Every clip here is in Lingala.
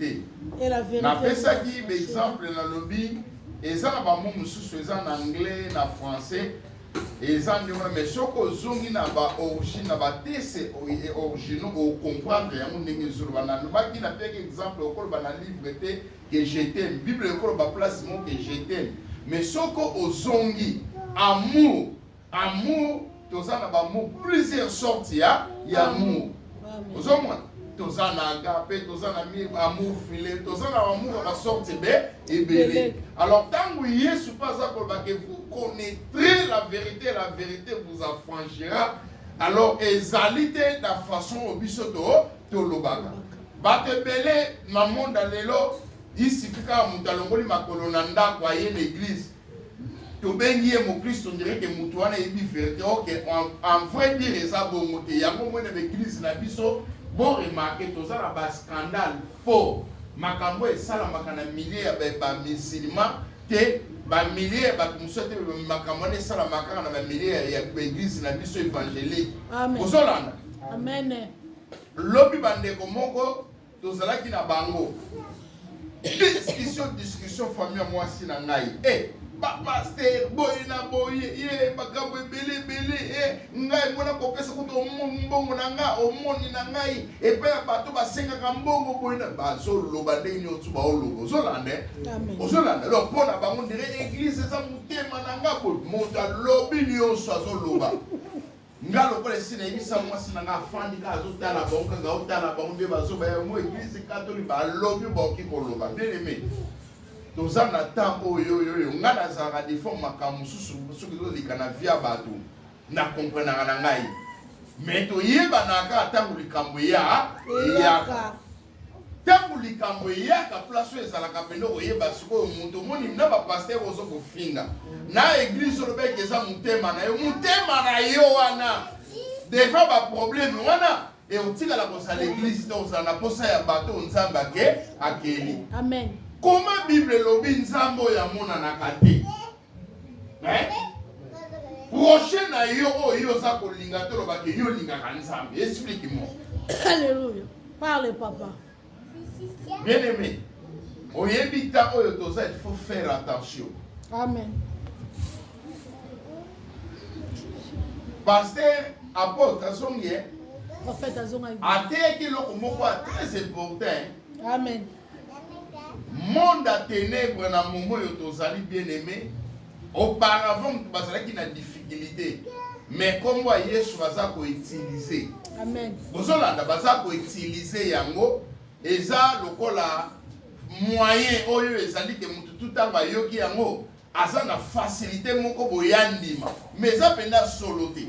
te napesaki baexemple nalobi eza na bamo mosusu eza na anglais na français eza nde wana mais soki ozongi na baorigine na batese e originaux ocomprendre yango ndenge ezoloba nalobaki napeki exemple okoloba na livre te ke jetem bible ekoloba place moko ke jetem mais soki ozongi amour Amour toza na ba mots plusieurs sortes ya ya amour. Ozomona? toza na agape toza na mie amour file toza na amour ya basorte ebe ebele alors ntango yesu mpe aza koloba ke vous connaîtrez la vérité la vérité vous affranchira alors ezali te na façon oyo biso to tolobaka bato ebele na monde ya lelo isifika moto alongoli makolo na ndako aye na eglise tobengi ye mokristo ndireke moto wana eyebi verite oke en vrai dire eza bongo te yango moi na baeglize na biso boremarke toza na bascandale mpo makambo esalamaka na milie ya bamisilima te bamilie ya bato mosusu te makambo wana esalamaka kaka na bamilie ya baeglize na biso evangelique ozolanda lobi bandeko moko tozalaki na bango discussion discussion famille ya mwasi na ngai eh, bapaster boye na boye ye makambo ebele ebele eh, ngai mpona kopesa kutu mbongo na ngai omoni na ngai epai ya bato basengaka mbongo boye na bazoloba ndenge nyonso baoloba ozolanda eh? ozolanda donc mpo na bango ndire eglise eza motema na ngai boye moto alobi nyonso azoloba nga lokola esi nayebisa mwasi na nga afandi kaka azotala bango kaka otala bango nde bazoba yango eglise katoli balobi baoki koloba ndeneme toza na temps oyo oyoyo nga nazalaka defort makambo mosusu soki tozolika na via bato na komprenaka na ngai me toyebanaka ntango likambo eya eyaka Tango likambo eyaka place oyo ezalaka pene okoyeba sikoyo moto omoni na ba pasteur ozo kofinga na eglise oloba ete eza motema na yo motema na yo wana devant ba problème wana e otikala kozala eglise te ozala na posa ya bato oyo nzambe ake akeli amen koma bible elobi nzambe oyo amonanaka te eh? prochain na yo oyo yo oza kolinga te olobaki yo olingaka nzambe explique moi alleluia parle papa bien aimé oyebi ntango oyo toza il faut faire attention amen paster apotre azongi ateyaki eloko moko ya très important amen monde ya tenèbre na momo oyo tozali bien aimé auparavant moto bazalaki na difficulté mais nkombo ya yesu baza koutilize bozolanda baza koutilize yango eza lokola moyen oyo ezali ke moto tu ntango ayoki yango aza na facilité moko boya ndima mais eza mpenza solo te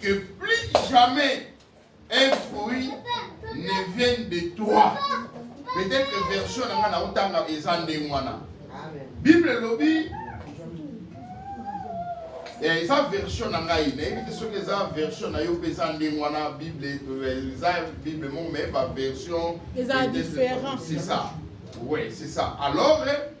que plus jamais un fruit ne vienne de toi. Peut-être que version na nga na otanga eza ndenge wana. Bible elobi eh, eza version na ngai nayebi te soki eza version na yo mpe eza ndenge wana bible eh, eza bible moko mais ba version eza différent c'est ça oui c'est ça alors eh,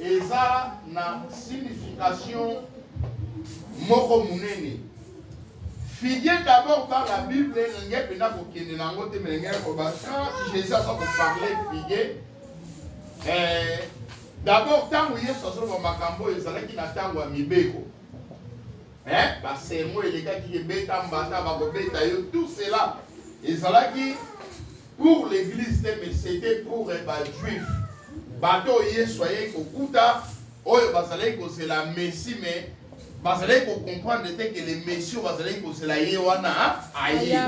eza na signification moko monene fidie d'abord par la bible elingi mpenza kokende na yango te melingi koba quand jésus aza koparle fidie eh, d'abord ntango yesu azoloba makambo oyo ezalaki na ntango ya mibeko eh, basermo elekaki ebeta mbata bakobeta yo tout cela ezalaki Pour l'eglise te mais c'etait pour ba juif bato oyo Yesu ayei kokuta oyo bazalaki kozela Messi mais bazalaki ko comprendre te que le Messi oyo bazalaki kozela ye wana aye.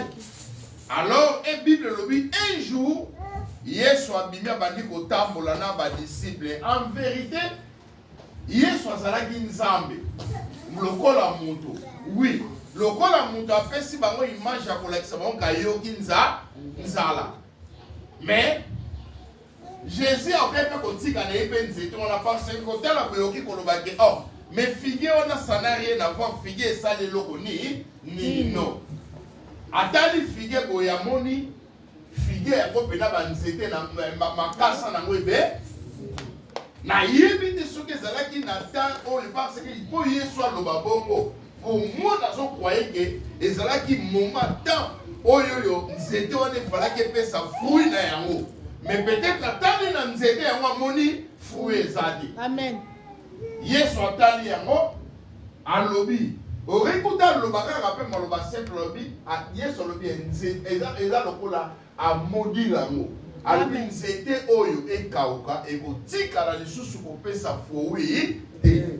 Alors e Bible elobi un jour Yesu abimi abandi kotambola na ba disciples en verite Yesu azalaki Nzambe lokola moto. Oui, lokola moto apesi bango image ya kolakisa bango kayoki nza nzala. Mais Jésus akoki mpe kotika na ye mpe nzete wana parce que kotala boyoki koloba ke oh mais figue wana ça n'a rien à voir figue esali eloko ni nino. Atali figue boye amoni Figuier yango mpe na banzete na makasa na yango ebe nayebi te soki ezalaki na temps oyo parce que mpo yesu aloba bongo komona azokwaye ke ezalaki moment temps oyo oyo nzete wana efalaki epesa fruit na yango mais peut-être atali na nzete yango amoni fruit eza te amen yesu atali yango Alobi oreyi kutu aloba kaka pe maloba simple alobi yesu alobi eza eza lokola a maudire yango alobi nzete oyo ekawuka ekotikala lisusu kopesa froui te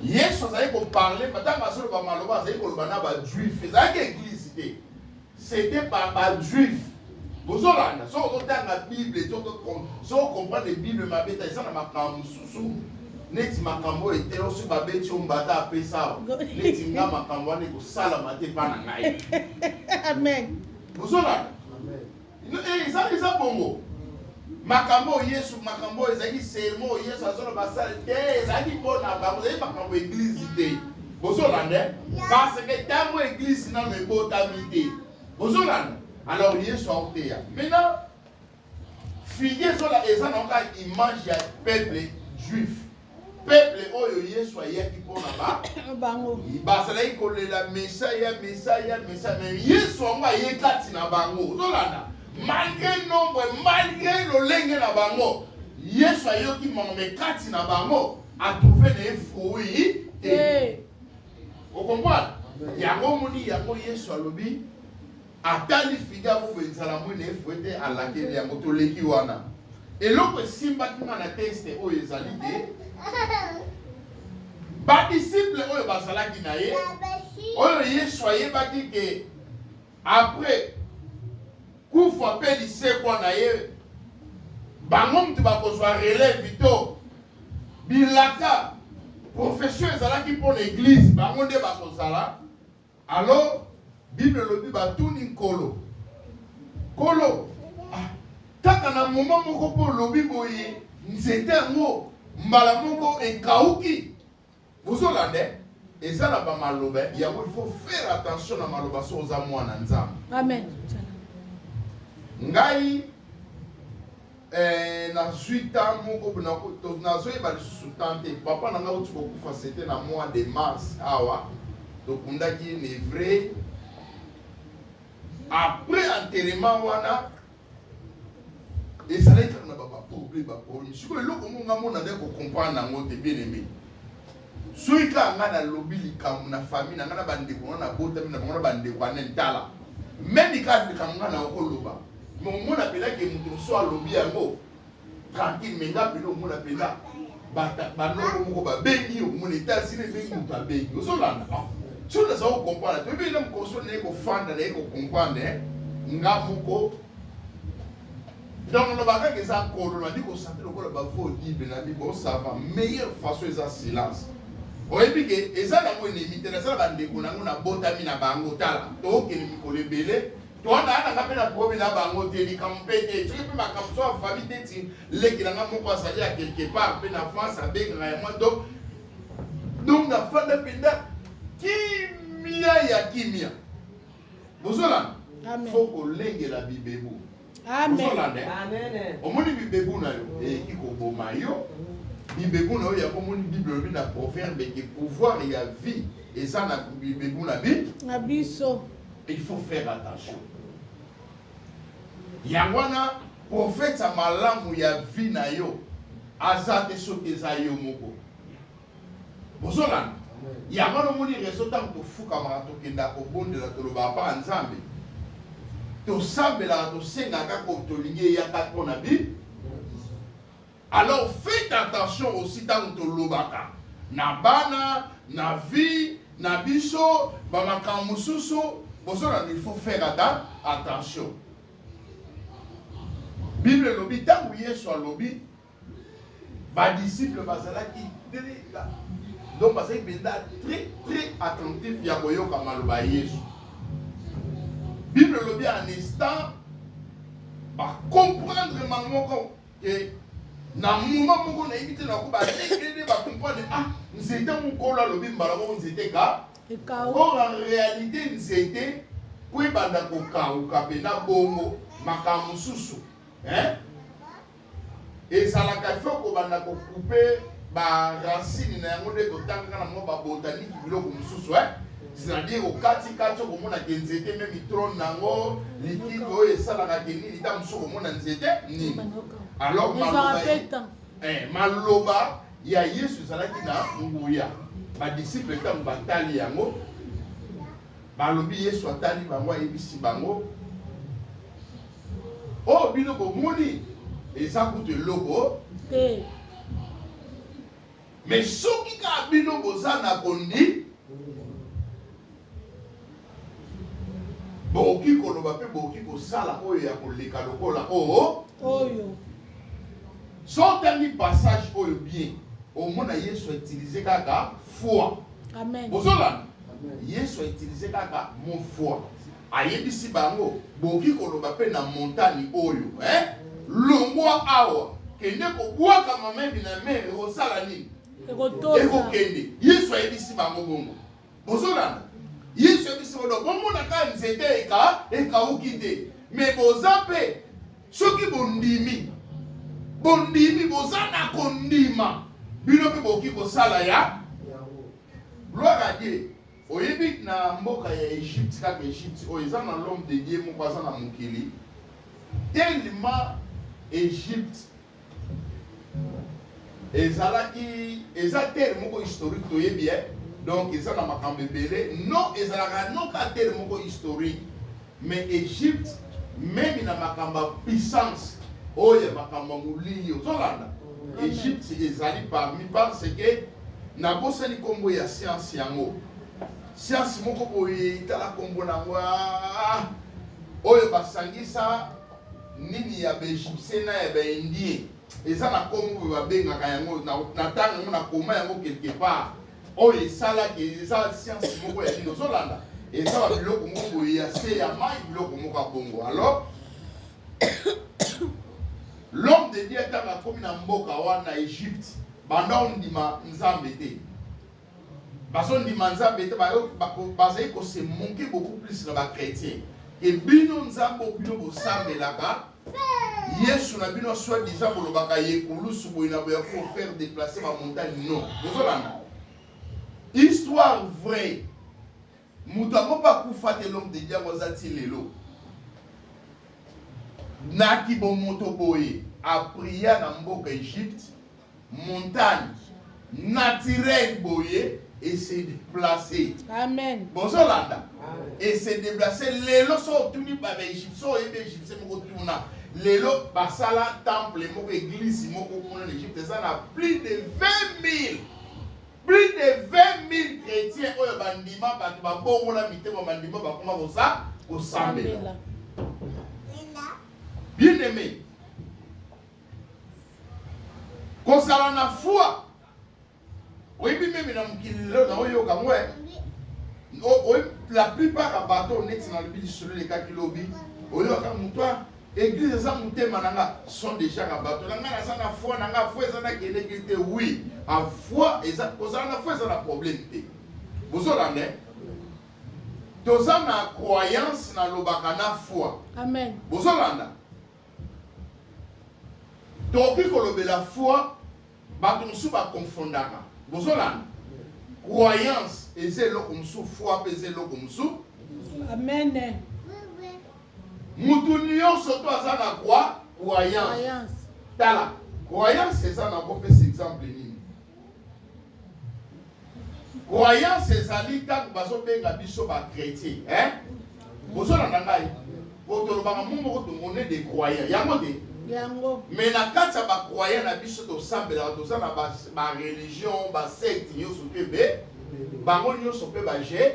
yesu azali koparle ntango azoloba maloba azali koloba na bajuif ezalaki eglise te C'etait par ba juif bozo landa soki ozo tanga bible to soki o comprendre bible mabe te eza na makambo mosusu neti makambo oyo ete osi babeti yo mbata apesa awa neti nga makambo wana ekosalama te epa na ngai amen bozo landa eza eza bongo Makambo oyo Yesu, makambo oyo ezalaki sermo oyo Yesu azoloba sale te, ezalaki mpo na bango, ezalaki makambo eglize te. Bozolanda? Parce que ntango eglize nano ebotami te. Bozolanda? Alors Yesu aoteya. Maintenant, figi ezola eza na oka image ya peuple juif. Peuple oyo Yesu ayaki mpo na ba bango. Bazalaki kolela Mesaya, Mesaya, Mesaya, mais Yesu yango aye kati na bango. Ozolanda? Malgré nombre, malgré lolenge na bango, Yesu ayoki mama mais kati na bango atrouve na ye fruit te. Okomprendre? Yango omoni yango Yesu alobi Atali fide ya bobo enzala mwene efo ete alakeli yango toleki wana. Eloko esimbaki nga na teste oyo ezali te badisiple oyo bazalaki na ye oyo yesu ayebaki ke apres kufa mpe lisekwa na ye bango moto bakozwa relève to bilaka profession ezalaki mpo na eglize bango nde bakozala Alors bible elobi batuni nkolo nkolo ah, kaka na moma moko mpo olobi boye nzete yango mbala moko ekauki bozolanda eh? eza na bamaloba yango il faut faire attention na maloba so oza mwana nzambe amen ngai Eeh nazui temps moko pona ko nazo yeba lisusu temps te papa na nga auti ko kufa c'etait na mois de mars awa to kundaki ye le vrai après enterrement wana ezalaki kaka na ba ba problème ba problème sikoyo eloko moko nga mona nde ko comprendre yango te bien aime Soki kaka nga na lobi likambo na famille na nga na ba ndeko na na botami na bango na ba ndeko ane tala meme kaka likambo nga na oko loba mais omona pela ke moto mosusu alobi yango tranquille mais nga pela omona pela ba noko moko ba bengi yo mon etat zile ebengi moto abengi ozo landa ah, soki naza ko comprendre te oyebi na mokolo soki naye kofanda naye ko comprendre nga moko Donc loba kaka eza kolo na liko santi lokola ba faux libre na bi bo sava meilleure façon eza silence oyebi ke eza nango enemi te naza na bandeko na yango nabotami na bango tala tookende mikolo ebele towana ana nga mpe na probe na bango te likambo mpe te soki mpe makambo so afami te ti leki na nga moko azali ya quelque part mpe na france abengaka ya mwa donc donc nafanda mpenza kimia ya kimia bozolana fo kolengela bibebu omoni bibebu na yo eyeki eh, koboma yo bibebu na yo yango omoni bible olobi na proverbe ete pouvoir ya vie eza na bibebu na bi na biso il faut faire attention yango wana profeta malamu ya vie na yo aza te soki eza yo moko bozolanda yango wana omoni rezo ntango tofukamaka tokendaka kobondela tolobaka mpaka nzambe tosambelaka tosengaka ko tolingi eyaka mpo na bi alors faites attention aussi ntango tolobaka na bana na vie na biso bamakambo mosusu bozolanda il faut faire ata attention bible elobi ntango yesu alobi Ba disciples bazalaki très donc bazalaki mpenza très très attentif ya koyoka maloba ya Yesu. Bible elobi en instant ba comprendre ma moko que na moment moko nayebi te nako balekende ba comprendre ah nzete mokolo alobi mbala moko nzete ka or en réalité nzete po ebanda kokauka mpe na bongo makambo mosusu hein Ezalaka faut kobanda ko couper ba racines na yango nde totangaka na mwa ba botanique biloko mosusu hein c'est-à-dire okati kati okomona ke nzete meme trone na yango likide oyo esalaka ke nini ntango mosusu okomona nzete nini alors maloba eh, maloba ya yesu ezalaki na nguya badisiple ntango batali yango balobi yesu atali bango ayebisi bango Oyo bino bomoni eza kutu eloko te. Me soki kaka bino boza na kondi, bokoki koloba mpe bokoki kosala oyo ya koleka lokola oyo oyo. So otangi passage oyo bien, omona Yesu autilize kaka foi. Amen. Bozolanda? Yesu autilize kaka mo foi. Ayebisi bango, Bokoki koloba mpe na montani oyo, Ee, longwa awa, kende kobwaka mambi na mer. Ekosala nini? Ekotosa. Ekokende. Yesu ayebisi bango bongo. Bozolanda? Yesu ayebisi bango, bomona kaka nzete eka ekauki te, me boza mpe soki bondimi, bondimi, boza na kondima, bino mpe bokoki kosala ya gloire à Dieu. Oyebi na mboka ya Egypte kaka Egypte oyo eza na l'homme de Dieu moko aza na mokili tellement Egypte ezalaki eza terre moko historique toyebi eh? donc eza na makambo ebele non ezalaka noka terre moko historique Mais Egypte meme na makambo ya puissance oyo ya makambo ya molili ozolanda Egypte ezali parmi parce que nabosani nkombo ya science yango science moko boye tala nkombo nango ah, oyo basangisa nini ya baegyptien na ya baindien eza na nkombo oyo babengaka yango na ntango yango nakoma yango quelque part oyo esalaki eza science moko ya nini ozolanda eza ba biloko moko boye ya se ya mai biloko moko ya bongo alors l'homme de dieu ntango akomi na mboka wana egypte banda ondima nzambe te bazondima nzambe te bazali kosemonke beaucoup plus na bachrétien ke bino nzambe bino bosambelaka yesu na bino soit disant bolobaka ye kulusu boye na boya ko faire déplacer ba montagne non bozolanda histoire vraie moto yango mpe akufa te lome de diango aza ti lelo na kibomoto boye apria na mboka egypte montagne naturelle boye et se déplacer. Amen. Bozo landa. Et se déplacer lelo so tuni ba ba Egypte so ebe Egypte moko tuna. Lelo basala temple moko église moko kuna na Egypte eza na plus de 20000 plus de 20000 chrétiens oyo bandima bato babongola mitema bandima bakoma kosa kosambela. Bien aimé. kozala na foi oyebi meme na mokili lelo naoyoka ngo eh. oyebi la plupart ya bato neti nalobi lisolo elekaki lobi oyoka moto ah, eglise eza motema na nga sont déjà na bato na ngai naza na foi na ngai foi eza nakendeki te oui a foi eza kozala na foi eza na problème te bozolanda eh? toza na croyance nalobaka na foi bozolanda Tokoki kolobela foi, batu mosusu ba confondaka. Bozolanda? Croyance eza eloko mosusu, foi pe eza eloko mosusu. Amen. Mutu nionso to aza na croyance. Tala, croyance eza na kopesa exemple nini? Croyance ezali ntango bazobenga biso ba chretien eh? bozolanda ngai po tolobaka mo moko tomone de croyant yango te yango me na kati ya bacroyant na biso tosambelaka toza na bareligion basecte nyonso mpe be bango nyonso mpe baje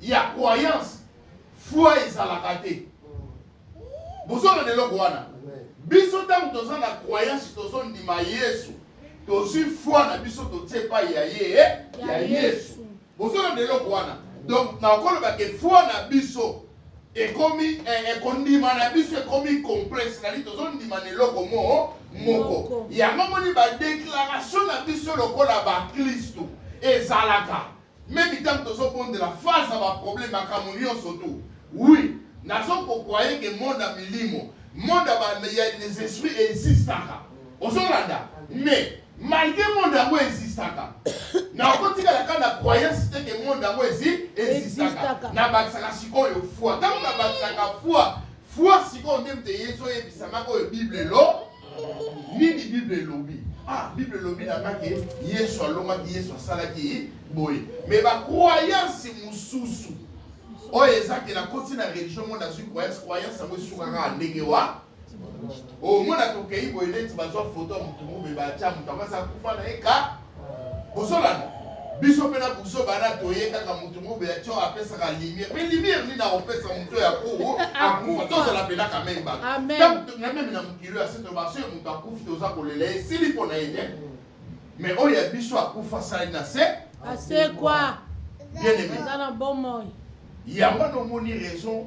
ya croyance foi ezalaka te bozona na eloko wana biso ntango toza na croyance tozondima yesu tozwi foi na biso totie epai ya ye eh, ya yesu bozona na eloko wana donc nakoloba ke foi na biso ekomi eh, ekondima na biso ekomi complexe nali tozondima na eloko mo moko yango moni badeklaratio na biso lokola baklisto ezalaka Meme tango tozo bondela face à ba problème makambo nionso tout oui nazo ko croire que monde ya milimo monde ya ba ya les esprits existaka ozo landa mais malgré monde yango existaka na okotikala kaka na croyance te que monde yango ezi existaka na bakisaka sikoyo foi tango na bakisaka foi foi sikoyo nde moto eyezoyebisamaka oyo bible elo nini bible elobi ah bible elobi na nga ke yesu alongaki yesu asalaki boye me bacroyance mosusu oyo eza ke nakoti na religion ngo nazwi croyance croyance yango esukaka ndenge wa omona tokei boye neti bazwa foto ya motu mobe batya moto amasi akufa na ye ka Bozolanda? Biso pe na buzoba na toye kaka mutu mobe ya cho apesaka lumière. Mais lumière nini akopesa mutu ya kuru akufa tozala pena ka meme ba. Donc na meme na mukilo ya seto ba soyo mutu akufi toza kolela ye sili pona ye te. Mais oyo ya biso akufa sali na se. Asekwa. Bien aimé. Aza na bomoi. Yango wana omoni raison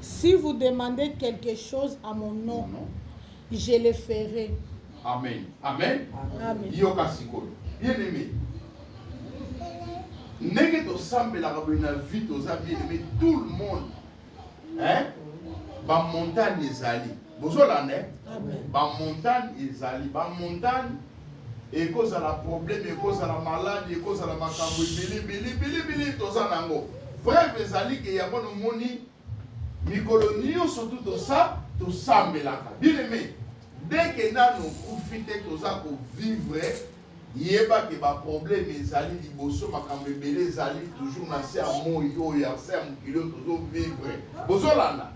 Si vous demandez quelque chose à mon nom, je le ferai. Amen. Amen. Amen. Yoka sikoyo. Bien aimé. Ndenge tosambelaka boye na vie toza bien aimé tout le monde. Hein? Ba montagne ezali. Bozolanda. Hein? Ba montagne ezali. Ba montagne Ekozala probleme, ekozala maladi, ekozala makambo ebele bele bele bele toza nango. Preuve ezali ke yango nomoni mikolo nionso tu tosa tosambelaka. Bien aime, dès ke nanu okufi te toza ko vivre yeba ke ba probleme ezali liboso, makambo ebele ezali toujours na se ya moyi oyo, ya se ya mokili oyo tozo vivre. Bozolanda?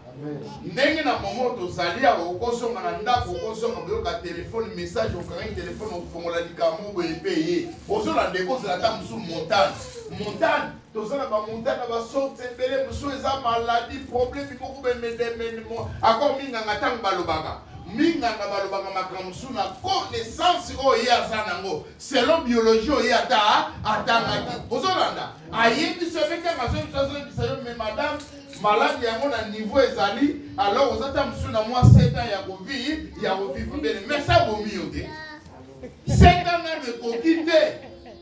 ndenge na momo tozali awa okozonga na ndako okozonga koyoka telefone message okangaki telefone okofongola likambo boye mpe ye ozolanda ekozala ata mosusu montane montane toza na bamontane na basorte ebele mosusu eza maladi probleme moko bemedemedemo ako minganga ntango balobaka minganga balobaka makambo mosusu na connaissance oyo ye aza nango selon biologie oyo ye ata atangaki ozolanda ayebisa yo mpe ntango azoyebisa azoyebisa yo me madame malade yango na niveau ezali alors oza ta mosusu na mwa 7 ans ya kovi ya kovivre bene mais sa bomi yo te 7 ans nano ekoki te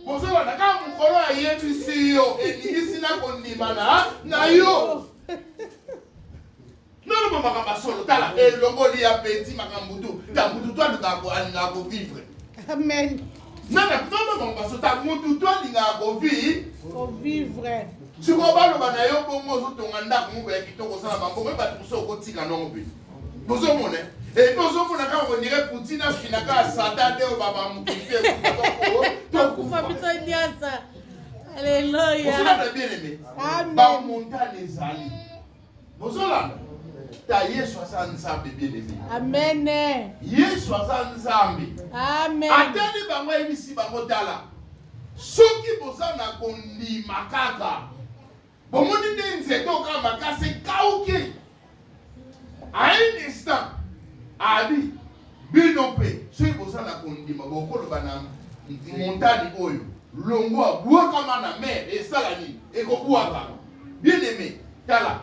bozolanda kaka mokolo ayebisi yo endimisi na kondimana na yo naloba makambo ya solo tala elongoli ya peti makambo tu ta motu to alukaka alingaka kovivre amen nana mama bango basota mutu to alingaka kovivre sikoyo baloba na yo bongo ozotonga ndako moko ya kitoko osala bambongo ye bato mosusu okotika nongo mpe bozomona epi ozomona kaka ondire putin afina kaka sata nde oyo bamamukite tokufa biso nyasa aleluya bien aime bamontane ezali bozolanda ta yesu aza nzambe bielemi amen yesu aza nzambe amen atali bango ayebisi bango tala soki boza na kondima kaka bomoni nde nzete oka makasi ekauki a un instant abi bino mpe soki boza na kondima bokoloba na montani oyo longwa bwakama na mer esala nini ekobwakama Bien aime, tala.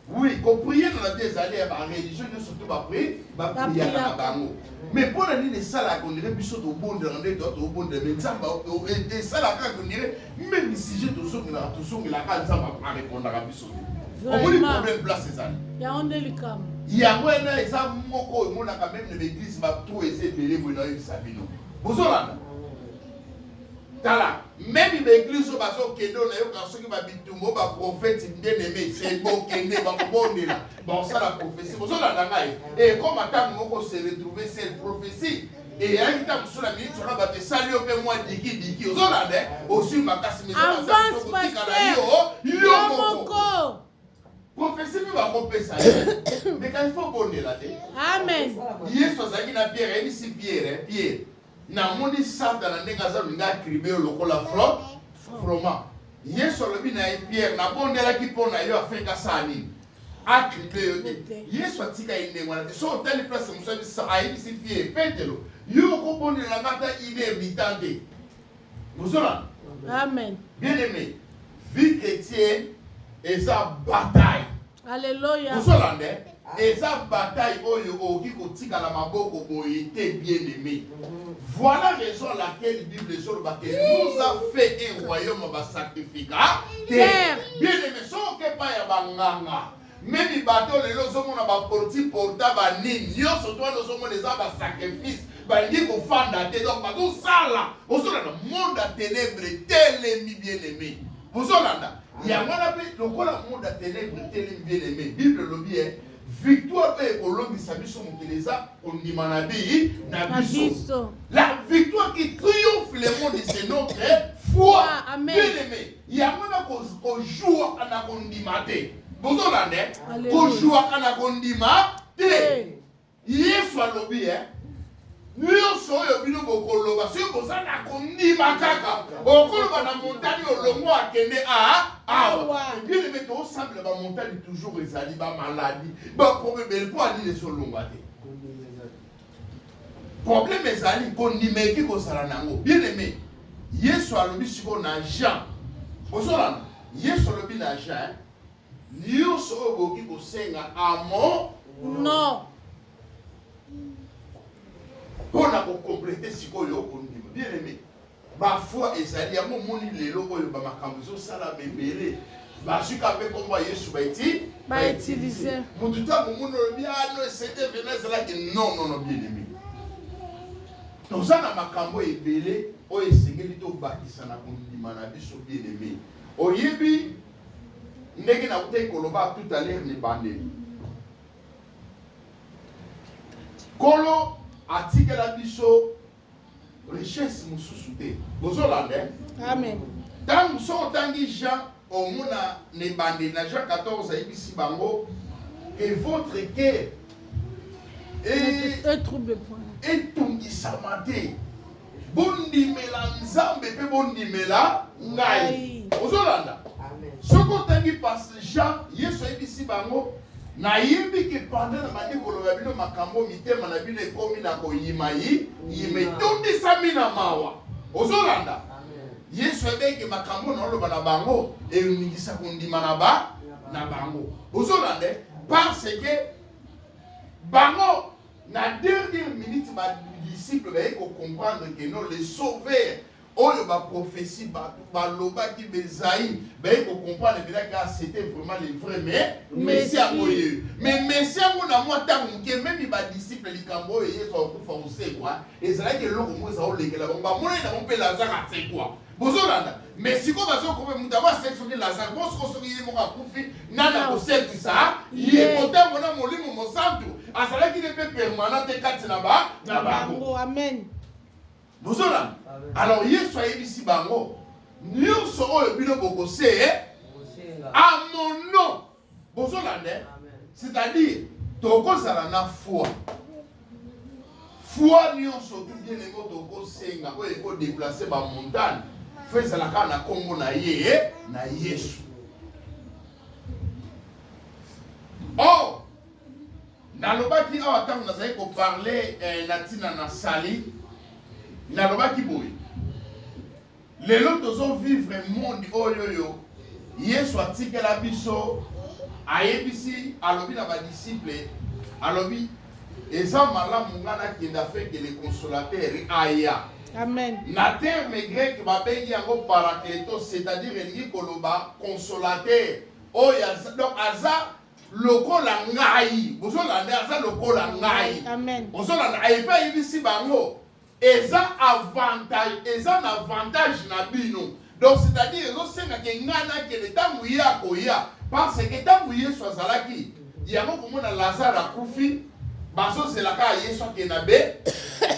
Oui, ko prier na vie ezali ya ba religion nyonso to ba prier, ba prier na bango. Mais mpo na nini esalaka ondire biso tobondela nde to tobondela mais Nzambe esalaka kaka ondire meme sujet tozongelaka tozongelaka Nzambe arepondaka biso te. Omoni problème place ezali. Yango nde likambo. Yango wana eza moko oyo emonaka meme na ba église ba trou eza ebele boye na oyebisa bino. Bozolanda? Tala meme ba eglise oyo bazokende oyo nayokaka soki babitumba oyo baprofeti bien aime se bokende bakobondela bakosala profesi bozolanda ngai ekoma eh, ntango moko se retrouve se profesi eyaki ntango mosusu na miniti wana bato esali yo mpe mwa dikidiki ozolanda eh, oswi makasi mezotikala yo yo moko profesi mpe bakopesa ye mekani fo obondela te yesu azalaki na pierre ayebisi pierre eh, pierre Namoni satana ndenge aza olinga atribe yo lokola fro froma. Yesu alobi na ye Pierre, nabondelaki mpo na yo afin kasala nini? Atribe yo te. Yesu atika ye ndenge wana te. So otali place mosalisi ayebisi Pierre, Petelo, yo okobondela nga ata une heure du temps te. Bozona? Amen. Bien aimé, vie chrétienne eza bataille. Alléluia. Osolande, eza bataille oyo okoki kotikala maboko boye te bien aimé. Voilà raison à laquelle Bible ezoloba que nous a fait un royaume ba sacrifica te. Bien aimé, soki epai ya banganga memi bato lelo ozomona baporti porta banini nyonso to wana ozomona eza basacrifice balingi kofanda te donc bazosala ozolanda monde ya ténèbre telemi bien aimé ozolanda Yango wana mpe lokola monde ya tenebre etelemi, bien aime, Bible elobi eh, victoire mpe ekolongisa biso mokili eza kondima na bii na biso. La victoire qui triomphe le monde c'est notre foi. Amen. Bien aime, yango wana kojuaka na kondima te. Bozolanda, kojuaka na kondima te. Yesu alobi eh, nyonso oyo bino bokoloba soki boza na kondima kaka okoloba na montani olongo akende a awa ebielembe tosambela bamontani toujours ezali bamaladi baprobebele mpo alili ezolongwa te probleme ezali kondima eki kozala na yango bieneme yesu alobi sikoyo na jean ozolana yesu alobi na jean Nionso oyo boki kosenga a mon non. Mpo na ko completer sikoyo okondima bien aimé ba foi ezali yango omoni lelo oyo ba makambo ezosala bebele bazwi ka mpe nkombo ya yesu baiti bautilize motu ntango omoni olobi ano ah, esete vena ezalaki non non non bien aimé toza na makambo ebele oyo esengeli tobakisa na kondima na biso bien aimé oyebi Ndenge nautaki koloba tout à l'heure na ebandeli, Nkolo atikela biso richesse mosusu te. Bozolanda? Eh? Amen. Ntango soki otangi Jean omona na ebandeli na Jean 14 ayebisi bango que votre cœur etungisama te bondimela nzambe mpe bondimela ngai ozolanda soki otangi pase jean yesu ayebisi bango nayebi ke panda na bandi koloba bino makambo mitema na bino ekomi na koyima yi yima etondisami na mawa ozolanda yesu ayebeke makambo na oloba na bango eningisa kondima na ba na bango ozolanda parce que bango Na dernière minute ba disciples baye ko comprendre que non le sauveur oyo ba prophetie bato balobaki bezai baye kocomprendre mpenza ka ah, c'était vraiment le vrai mais messi yango ye mais messi yango na mwa ntango moke memi badisciple likambo oyo yesu akokufa kosekwa ezalaki eloko moko eza kolekela bango bamonani na bango mpe lazare asekwa bozolanda me sikoyo bazokope moto yango asekisaki lazare bo sikoyo soki ye moko akufi nani akosekisa ye kotango na molimo mosantu azalaki ne mpe permanent te kati na ba na bango amen bozolanda alors yesu ayebisi bango nyonso oyo bino bokose amono bozolanda eh? c'est-à-dire tokozala na foi foi nyonso tugene ko tokosenga oyo ekodeplace bamontane fo ezala kaka na nkombo na ye eh? na yesu or nalobaki awa ntango nazali koparle eh, na ntina na sali nalobaki boye Lelo tozo vivre monde oyoyo yesu atikela biso ayebisi alobi na ba disciples alobi eza malamu nga nakende afin que le consolateur aya Amen. na terme grec babengi yango parakleto c'est-à-dire elingi koloba consolateur oyo aza donc aza lokola ngai bozolanda aza lokola ngai Amen. bozolanda ayebi ayebisi bango Eza avantage eza na avantage na bino donc c'est à dire ezo senga ke ngai na kende tangu ye akoya par ce que tangu yesu azalaki yango komona lazare akufi bazo zela kaka yesu akende na be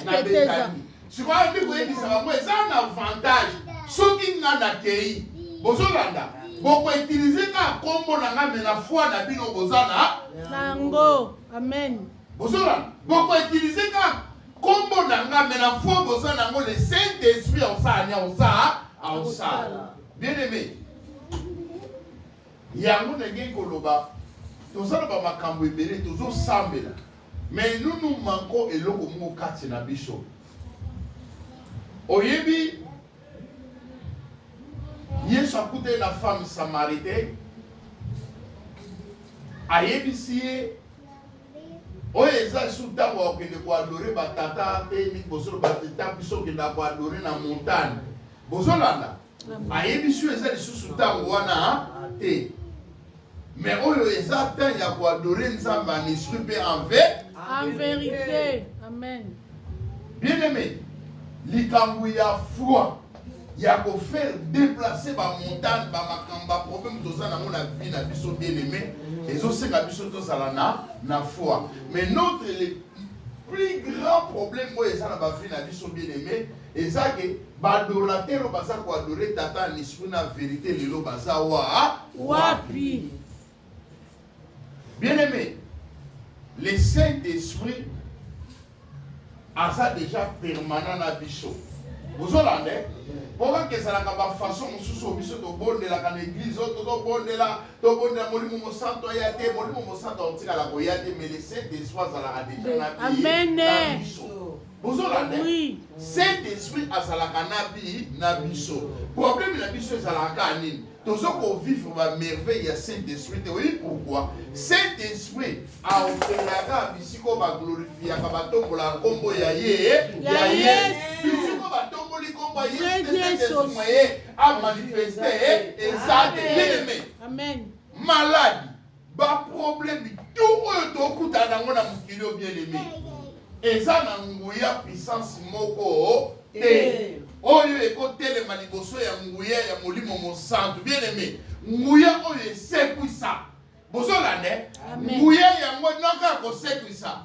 na betani sikoyo ayebi koyebisa bango eza na avantage soki ngai nakei bozolanda bokoutilize kaka nkombo na ngai me na foi na bino boza na yango amen Bozola, boko utiliser ka kombo na nga mais la foi boza na ngo le Saint Esprit osala nia osala osala. Bien aimé. Yango na ngi koloba tozala ba makambo ebele tozo sambela mais nous nous manquons eloko moko kati na biso. Oyebi Yesu akutani na femme samaritaine, ayebisi ye oyo eza esu ntango akokende koadore batata te mingi bozoloba te ntango biso okenda koadore na montagne bozolanda ayebisi yo eza lisusu ntango wana te Mais oyo eza temps ya ko adorer Nzambe en esprit mpe en verite. En verite. Amen. Bien aimé, likambo ya foi ya ko faire déplacer ba montagne ba makambo ba problème toza nango na vie na biso bien aimé ezosenga biso tozala na na foi mais notre le plus grand problème oyo eza na ba vie na biso bien aimé Eza ke ba adorateur oyo baza ko adore tata ya l'esprit na verite lelo baza wa wapi? Bien aimé, le saint esprit aza deja permanent na biso ozolanda eh? po kaka ezalaka bafaçon mosusu oyo biso tobondelaka na eglize oyo tozobondela tobondela molimo mosanto aya te molimo mosanto akotikala koya te mais le saint esprit azalaka deja na biso bozolanda saint esprit azalaka na bi na biso problème na biso ezalaka kaka nini tozo kovivre bamerveille ya saint esprit te oyebi pourkui saint esprit aokelaka bisika oyo baglorifiaka batombolaka nkombo ya ye ya yesu bisiko batomboli nkombo ya yesu saint esprit maye amanifeste eza te bien aime malade Ba problème tout oyo tokutana nango na mokili oyo bien aimé eza na nguya puissance moko te oyo ekotelema liboso ya nguya ya molimo mosantu bien aimé nguya oyo esekwisa bozolanda nguya yango naka kosekwisa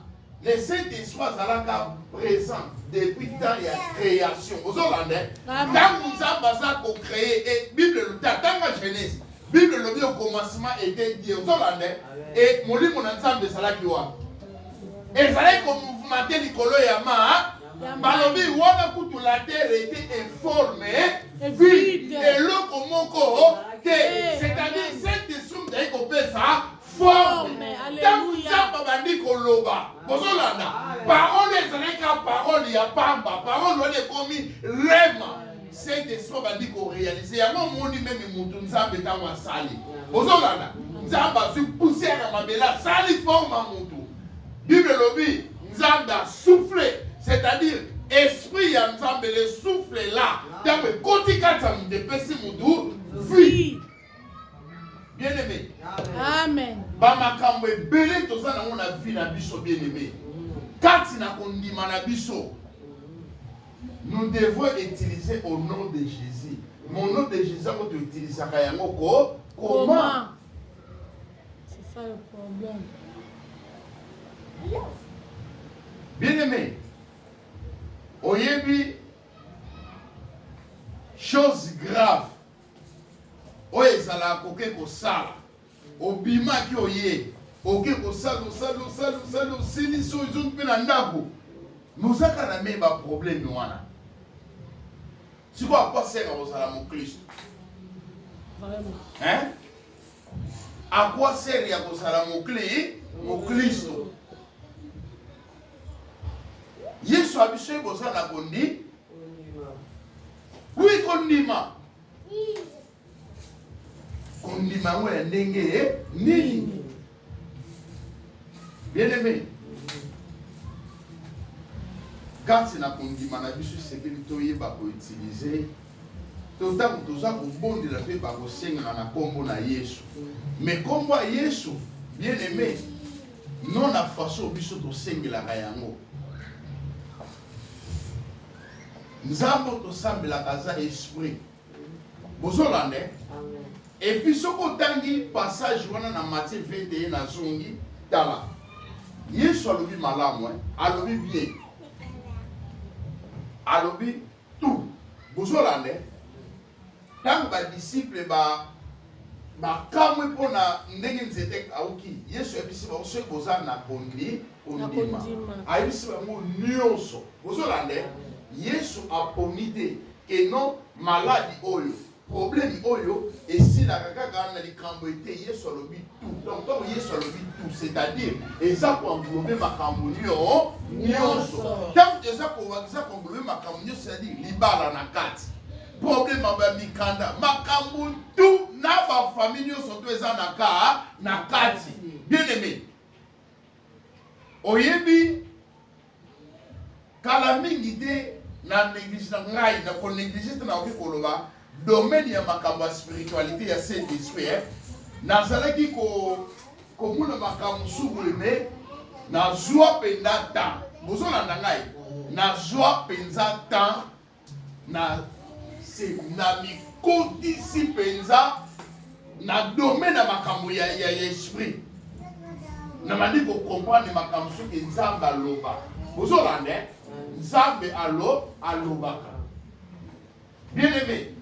Le Saint Esprit azalaka présent depuis temps ya création. Ozolanda ntango Nzambe aza ko créer et Bible elobi ntango ya Genèse. Bible elobi au commencement était Dieu. Ozolanda et molimo na Nzambe ezalaki wapi? Ezalaki ko mouvementer likolo ya ma balobi wana kutu la terre était informe vide eloko moko te c'est-à-dire saint esprit ezali kopesa forme ntango nzambe abandi koloba bozolanda parole ezalaki ka parole ya pamba parole wana ekomi rema saint esprit abandi korealize yango omoni meme motu nzambe ntango asali bozolanda nzambe azwi poussière ya mabele asali forme ya motu bible elobi nzambe asouffle c'est-à-dire esprit ya nzambe le souffle la ntango ekoti kati ya moto epesi motu vie bien aimé amen ba makambo ebele toza nango na vie na biso bien aimé kati na kondima na biso nous devons utiliser au nom de jésus mon nom de jésus yango toutilisaka yango ko comment c'est ça le problème bien aimé oyebi chose grave oyo ezalaka koke kosala obimaki oye oke kosala osali osali osali osilisi oyo ezongi mpe na ndako mozaka na me baprobleme wana sikoyo akwaseka kozala moklisto akwasere ya kozala mokli moklisto yesu abiso ye boza na kondi Oui, kondima. Kondima yango ya ndenge eh? nini? Bien aimé. kati na kondima na biso esengeli toyeba koutilize to ntango toza kobondela mpe bakosengaka na nkombo na yesu me nkombo ya yesu bien aime no na faso biso tosengelaka yango nzambe oyo tosambelaka aza esprit bozolanda eh? epuis soki otangi passage wana na matie 21 nazongi tala yesu alobi malamu eh? alobi bien alobi tout bozolanda eh? Ntango badisiple ba bakamwi mpo na ndenge nzete ekauki yesu ayebisi bango soki boza na kondi kondima ayebisi bango nyonso bozolande yesu aponi te keno maladi oyo probleme oyo esilaka kaka na likambo ete yesu alobi Donc, ntango yesu alobi tout c'est-à-dire eza koenglobe makambo nyonso ntango eza kowangiza koenglobe makambo nyonso c'est-à-dire libala na kati problème ya bamikanda makambo tu na bafamille nyonso to eza na ka na kati bien aimé oyebi Kala mingi te na neglige na ngai na ko neglige te nakoki koloba domaine ya makambo ya spiritualité ya saint esprit eh. nazalaki ko komona makambo mosusu boye me nazwa mpenza temps bozolanda ngai nazwa mpenza temps Na se na mikotisi mpenza na domaine ya makambo ya ya esprit na bandi ko comprendre makambo soki nzambe aloba ozolanda eh? nzambe alo alobaka bien aimé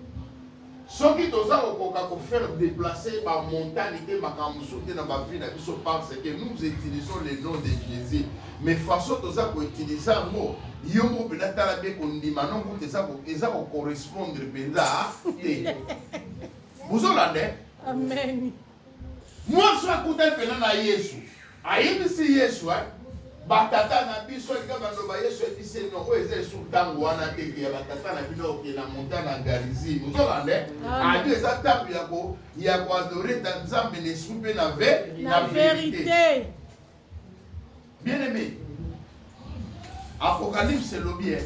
Soki toza kokoka ko faire deplacer ba mentalites makambo mosusu te na ba vie na biso parce que nous utilisons le nom de Jesus mais façon toza ko utiliser yango yo moko mpenza tala mpe kondima no kutu eza ko eza ko correspondre mpenza te bozolanda Amen. Mwasi oyo akutani mpenza na Yesu, ayebisi Yesu, eh, batata na biso alika baloba Yesu ayebisi ye no oyo eza esu ntango wana te ke ya batata na bino oke na monta na Galizie. Ozolanda eh? Adi eza ntango ya ko ya koadore ta Nzambe na esu mpe na ve na verite. Bien aimé, Apocalypse elobi eh,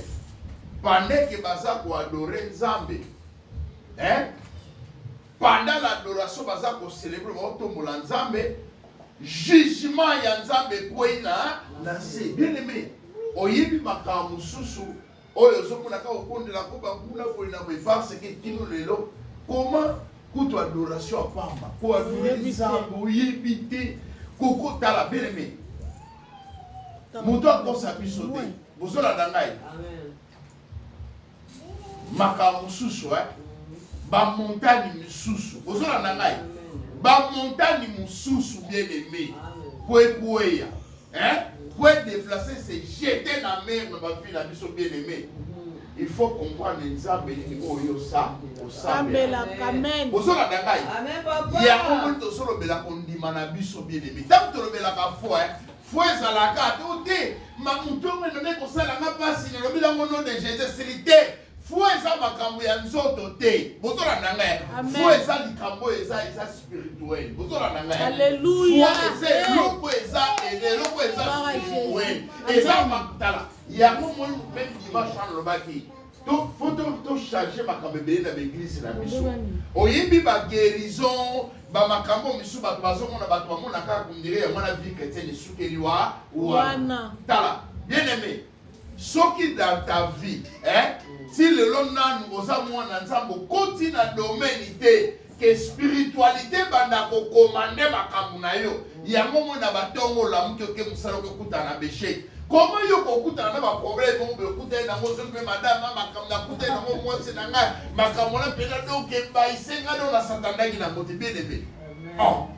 pendant que baza koadore Nzambe eh, pendant l'adoration baza kocelebre baotombola Nzambe, jugement ya Nzambe ekwei na na se. Bien aimé, oyebi makambo mosusu oyo ozokuna kaka okondela ko banguna boye na boye parce que kino lelo koma kutu adoration ya pamba ko adore nzambe oyebi te kokotala beleme moto akosa biso te bozolanda ngai makambo mosusu eh? bamontani mosusu bozolanda ngai bamontani mosusu bien aime po ekweya Hein? Pour être déplacé, c'est jeter la mer dans ma ville, à biso bien aimé. Il faut comprendre nzambe nini oyo sa osambela amen bozolanda ngai yango moni tosolobela kondima na biso bien aimé ntango tolobelaka foi fo ezalaka to te mamutu yango ememe kosala nga mpasi nalobi nango no de jesus sili te Foi eza makambo ya nzoto te. Bozolanda ngai. Foi eza likambo eza eza spirituel. Bozolanda ngai. Alléluia. Foi eza eloko eza eloko eza spirituel. Eza makutala. Yango moi même dimanche on lobaki. Donc, faut donc tout changer ma camébé dans l'église la biso. Oyembi ba guérison, ba makambo misu ba bazo mona ba mona ka kundire ya mona vie chrétienne sukeli wa wana. Tala, bien aimé, soki dans ta vie eh, ti lelo nanu oza mwana nzambe okoti na domaine te ke spiritualité banda kokomande makambo na yo yango moi na batongo olamuki oke mosala okekutana na bechec koma yo kokutana na baproblème moko boye okutani nango soki mpe madame na makambo nakutani nango mwasi na ngai makambo na mpenza donc ebaise ngai nao nasatandaki nango te bien aimé oh.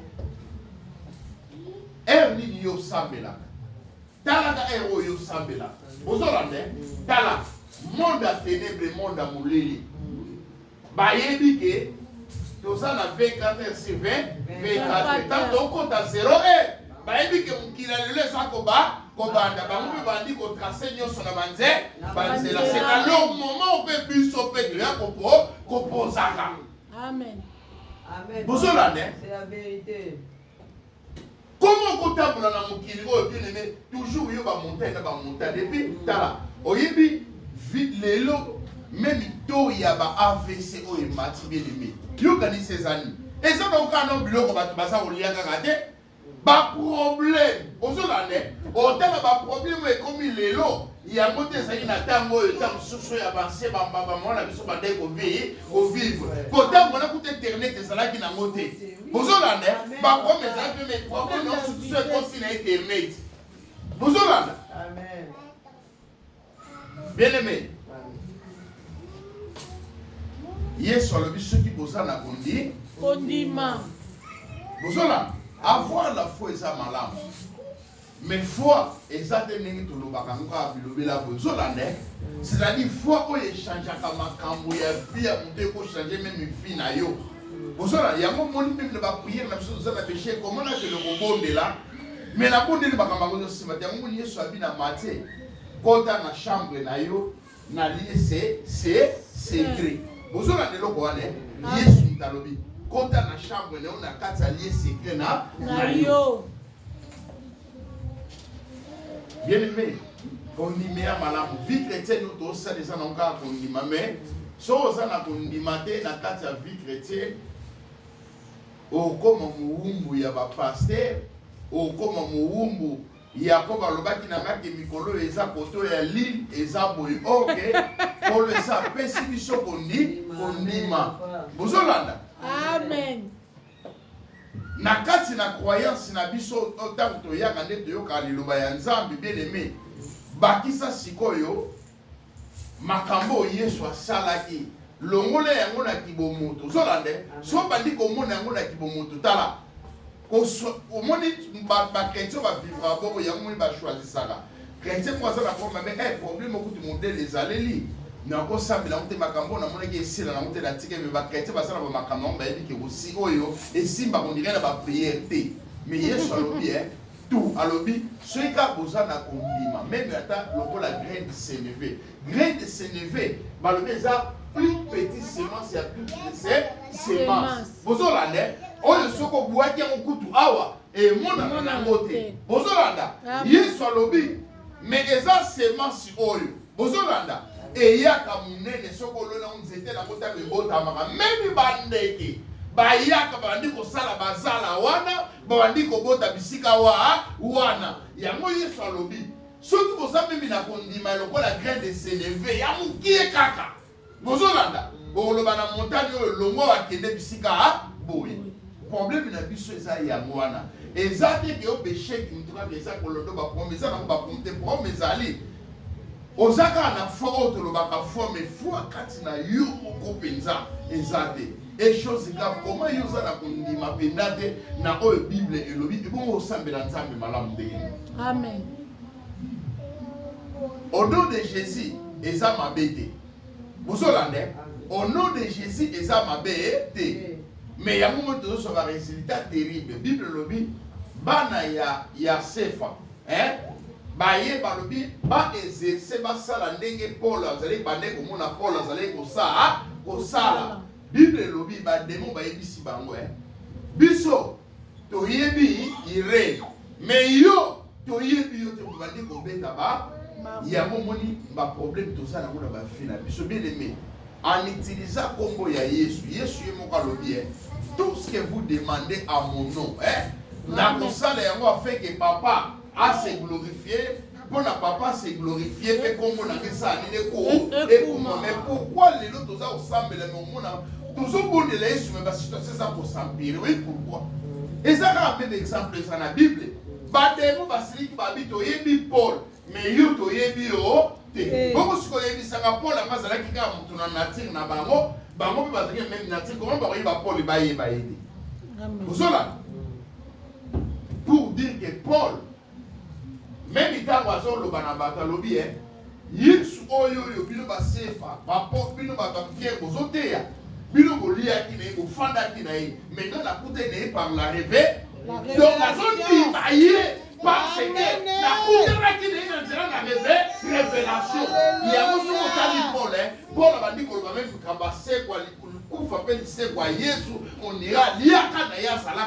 ere nini yo osambelaka Tala ka heure oyo osambela. Bozolanda eh? Tala monde ya ténèbre, monde ya molili. Bayebi ke toza na 24 sur 20 24 ntango tokota 0 e bayebi ke mokili ya lelo eza koba kobanda bango mpe bandi kotrace nyonso na banze banzela c'est à leur moment mpe biso mpe toya kopo kopozaka bozolanda Comment okotambola na mokili oyo bien aimé toujours yo ba montagne na ba montagne et puis tala oyebi lelo meme to ya ba AVC oyo emati bien aimé yo kanisi ezali eza na okaa na biloko bato baza kolia kaka te ba problème ozolanda otala ba problème oyo ekomi lelo yango te ezali na ntango oyo ntango mosusu ya banse bambamba mwana biso bandai kovivre mpo ntango wana kuta internet ezalaki nango te bozolanda bakoma ezali mpe me bakoma na mosusu ekosi na internet bozolanda bien aimé yesu alobi soki boza na kondi kondima bozolanda avoir la foi eza malamu Mais foi eza te ndenge tolobaka yango kaka bilobela boye ezolanda eh? c'est à dire foi oyo echangeaka makambo ya vie ya moto ekochange meme vie na yo ozala yango omoni mpe na bapriere na biso toza na beshe komona kende kobondela me nabondeli makambo yango ezosima te yango moni yesu abi na matie kota na chambre na yo na lie se se secret bozolanda eloko wana eh? ah. yesu moto alobi kota na chambre na yo na kati ya lie secret na na yo bien aimé kondima ya malamu vie chrétienne oyo tosala eza nango kaka kondima mais soki oza na kondima te na kati ya vie chrétienne okoma mowumbu ya bapaster okoma mowumbu Yakobo alobaki na ngai ke mikolo oyo eza kote oyo ya lile eza boye oke polo esa apesi biso kondi kondima bozolanda amen na kati na croyance na biso ntango toyaka nde toyokaka liloba ya nzambe bien aime bakisa sikoyo makambo oyo yesu asalaki longola yango na kibomoto ozolanda so bandi komona yango na kibomoto tala omoni bakretien bavivra bongo yango moni bachoisisaka kretien moko aza na problème mais eh, problème okuti modele ezaleli nakosambela yango te makambo oyo namonaki esila nango te natika me bakretien baza na bamakambo yango bayebi ke oyo esimba kondire na bapriere te mais yesu alobi e eh, Tu alobi soki kaka boza na kondima meme ata lokola grain de seneve grain de seneve balobi eza plus petit semence ya plus se semence bozolanda oyo soki obwaki yango kutu awa emonana nango te bozolanda ah yesu alobi me eza semence oyo bozolanda eyaka monene soki olona yango nzete nango ntango ebotamaka memi bandeke bayaka bandi kosala bazala wana babandi kobota bisika wa wana yango yesu alobi soki boza mimi na kondima lokola grain de seleve ya mokie kaka bozolanda bokoloba na montani oyo longwa wakende bisika boye probleme na biso eza yango wana eza te ke obesheki mutokaka eza kolondo baprome eza nango baprome te prome ezali oza kaka na foi oyo tolobaka foi mais foi kati na yo moko mpenza eza te et chose grave comment yo oza na kondima mpenza te na oyo bible elobi ebongo osambela nzambe malamu ndenge amen au nom de jésus eza mabe te bozolanda au nom de jésus eza mabe te mais yango moi tozosoka résultat terrible bible elobi bana ya ya sefa eh? baye balobi ba exerce basala ndenge Paul azali bande komona Paul azali kosala kosala bible elobi bademo bayebisi bango eh? biso toyebi ire me yo toyebi yo te obandi kobeta ba yango omoni baproblème toza nango na bavi na biso bien aime En utilisa kombo ya Yesu. Yesu ye moko alobi eh, tout ce que vous demandez à mon nom eh, nakosala yango afin que papa a se glorifier mpo na papa se glorifie mpe nkombo na ngai esala nini eko ekuma me pourkui lelo toza kosambela me omona tozobondela yesu me basituatio eza kosampire oyi pourkui eza kaka mpe baexemple eza na bible bademo basiliki babi toyebi paul mais yo toyebi yo te eh. bongo sikoyo oyebisaka pole yango azalaki kaka moto na nature na bango bango mpe bazalaki na meme nature koma bakoyeba pole bayeba ye te ozola pour dire que paul meme ntango azoloba na bato alobi e yesu oyo oyo bino basefa bapo bino bato ya mike bozoteya bino boliaki na ye bofandaki na ye maintenant nakutani na ye par la reve donc azondima ye Parce que nakutanaki na ye na nzela na reve revelation yango soki otali pole eh, pole abandi koloba meme likambo asekwa likufa mpe lisekwa yesu onira aliaka na ye azalaka